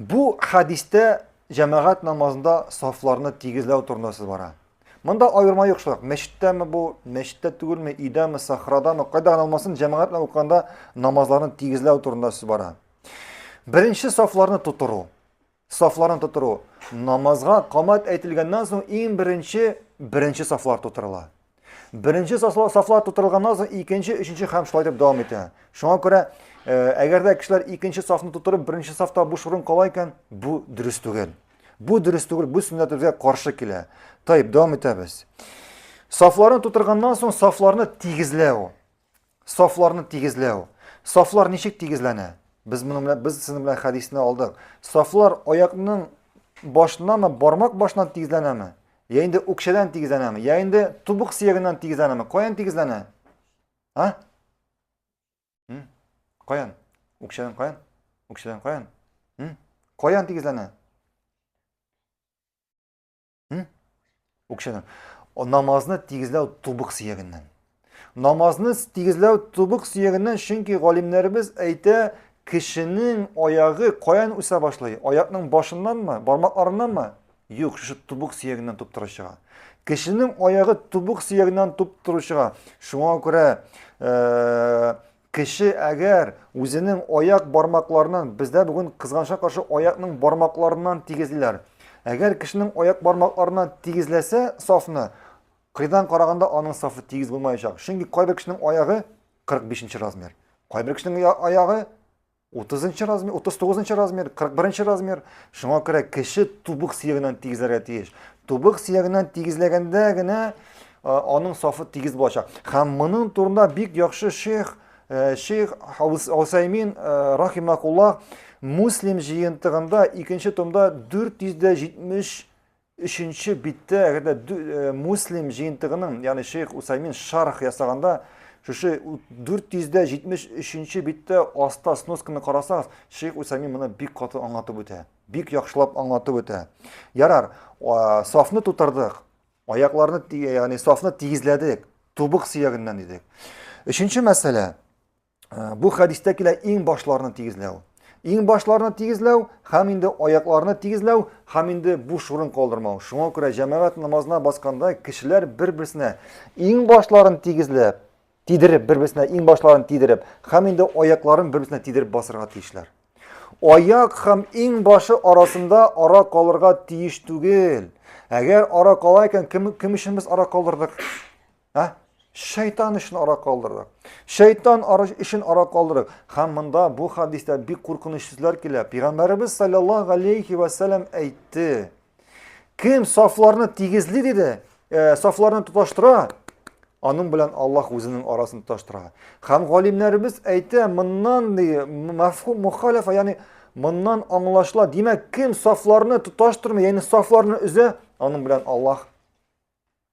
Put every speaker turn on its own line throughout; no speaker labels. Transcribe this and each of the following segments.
Бу хәдистә җәмәгать намазында сафларны тигезләү турында сүз бара. Монда аерма юк шулай. Мәчеттәме бу, мәчеттә түгелме, өйдәме, сахрадамы, кайда гына алмасын, җәмәгать белән укыганда намазларны тигезләү турында сүз бара. Беренче сафларны тутыру. Сафларны тутыру. Намазга камат әйтелгәннән соң иң беренче беренче сафлар тутырыла. Беренче сафлар тутырылганнан соң икенче, өченче һәм шулай дип дәвам итә. Шуңа күрә, э, әгәр дә кешеләр икенче сафны тутырып, беренче сафта буш урын кала икән, бу дөрес түгел. Бу дөрес түгел, бу сүннәтебезгә каршы килә. Тайып, дәвам итәбез. Сафларны тутырганнан соң сафларны тигезләү. Сафларны тигезләү. Сафлар ничек тигезләнә? Без моның белән без сезнең белән хәдисне алдык. Сафлар аякның башыннанмы, бармак башыннан тигезләнәме? Я инде үкчәдән тигезләнәме? Я инде тубык сөягеннән тигезләнәме? Каян тигезләнә? А? Каян? Үкчәдән каян? Үкчәдән каян? Каян тигезләнә? Үкшәнең. Намазны тигезләү тубык сөягеннән. Намазны тигезләү тубык сөягеннән, чөнки галимнәребез әйтә, кешенең аягы каян үсә башлый? Аякның башыннанмы, бармакларыннанмы? Юк, шушы тубык сөягеннән туп торучыга. Кешенең аягы тубык сөягеннән туп торучыга. Шуңа күрә э, Кеше әгәр үзенең аяк бармакларыннан, бездә бүген кызганычка каршы аякның бармакларыннан тигезлиләр. Әгәр кешенең аяк бармакларыннан тигезләсә сафны, кыйдан караганда аның сафы тигез булмаячак. Чөнки кайбер кешенең аягы 45 нче размер, кайбер кешенең аягы Утызынчы размер, утыз тугызынчы размер, кырык беренче размер. Шуңа күрә кеше тубык сөягеннән тигезләргә тиеш. Тубык сөягеннән тигезләгәндә генә аның сафы тигез булачак. Һәм моның турында бик яхшы шейх шейх Усаймин рахимакулла Муслим җыентыгында икенче томда 470 Өченче биттә, әгәр дә Муслим җыентыгының, ягъни Шейх Усаймин шарх ясаганда, шушы 473-нче биттә аста сносканы карасагыз, Шейх Усаймин моны бик каты аңлатып үтә. Бик яхшылап аңлатып үтә. Ярар, сафны тутырдык, аякларны, ягъни сафны тигезләдек, тубык сөягеннән дидек. Өченче мәсьәлә, Ә, бу хәдистә килә иң башларны тигезләү. Иң башларны тигезләү һәм инде аякларны тигезләү һәм инде буш урын калдырмау. Шуңа күрә җәмәгать намазына басканда кешеләр бер-берсенә иң башларын тигезләп, тидереп, бер-берсенә иң башларын тидереп һәм инде аякларын бер-берсенә тидереп басырга тиешләр. Аяк һәм иң башы арасында ара калырга тиеш түгел. Әгәр ара кала икән, кем, кем өчен без ара калдырдык? Ә? Шайтан өчен ара калдырдык. Шайтан ара өчен ара калдырдык. Һәм монда бу хадистә бик куркыныч сүзләр килә. Пәйгамбәребез саллаллаһу алейхи ва саллям әйтте. Кем сафларны тигезли диде, э, сафларны тоташтыра, аның белән Аллаһ үзенең арасын тоташтыра. Һәм галимнәребез әйтә, моннан ди, мәфһүм мухалифа, ягъни моннан аңлашыла. Димәк, кем сафларны тоташтырмый, ягъни сафларны өзә, аның белән Аллаһ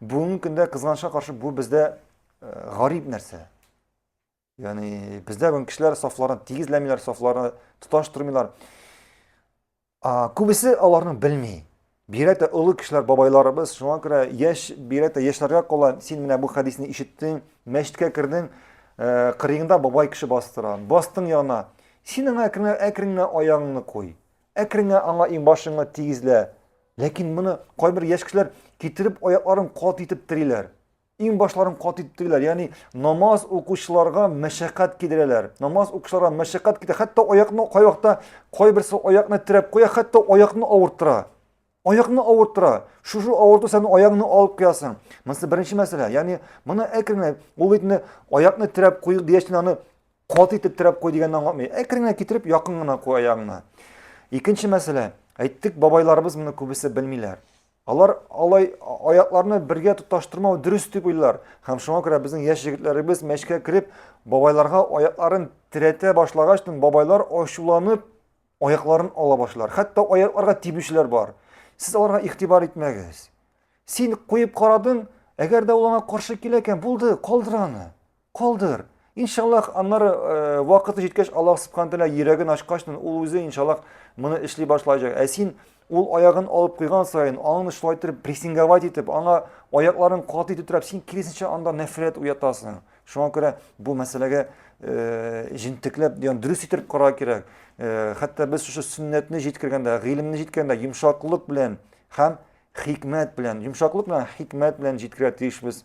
Бүгенге көндә кызганычка каршы бу бездә гарип нәрсә. Ягъни бездә бүген кешеләр сафларын тигезләмиләр, сафларны тоташтырмыйлар. А, күбесе аларны белми. Бигрәк тә олы кешеләр, бабайларыбыз, шуңа күрә яшь, бигрәк тә яшьләргә кала, син менә бу хәдисне ишеттең, мәчеткә кердең, э, кырыеңда бабай кеше бастыра. Бастың яна. Син аңа әкренләп әкренләп аягыңны куй. Әкренңә аңа иңбашыңны тигезлә. Ләкин моны кайбер яшь кешеләр китереп аякларын кат итеп териләр. Иңбашларын кат итеп териләр. Ягъни намаз укучыларга мәшәкать кидерәләр. Намаз укучыларга мәшәкать кидерә. Хәтта аякны кайвакта кайберсе аякны терәп куя, хәтта аякны авырттыра. Аякны авырттыра. Шушы авырту сәбәпле аягыңны алып куясың. Монысы беренче мәсьәлә. Ягъни моны әкрен генә ул бит инде аякны терәп куй дигәч аны кат итеп терәп куй дигәнне аңлатмый. Әкрен генә китереп якын гына куй аягыңны. Икенче мәсьәлә. Әйттек, бабайларыбыз моны күбесе белмиләр. Алар алай аякларны бергә тоташтырмау дөрес дип уйлар. Һәм шуңа күрә безнең яшь егетләребез мәчкә кереп, бабайларга аякларын терәтә башлагач, бабайлар ачуланып Аякларын ала башлар. Хәтта аякларга тибүчеләр бар. Сез аларга игътибар итмәгез. Син куеп карадың, әгәр дә ул аңа каршы килә икән, булды, калдыр аны. Калдыр. Иншаллах, аннары э, вакыты җиткәч, Аллаһ субханәһү тәгалә йөрәген ачкачтын, ул үзе иншаллах моны эшли башлаячак. Ә син Ул аягын алып куйган саен, аңны шулай итеп прессинговать итеп, аңа аякларын каты итеп терәп, син киресенчә анда нәфрәт уятасың. Шуңа күрә бу мәсьәләгә э, җентекләп, ягъни дөрес итеп карар кирәк. Э, хәтта без шушы сөннәтне җиткергәндә, гыйлемне җиткергәндә йомшаклык белән һәм хикмәт белән, йомшаклык белән хикмәт белән җиткерә тиешбез.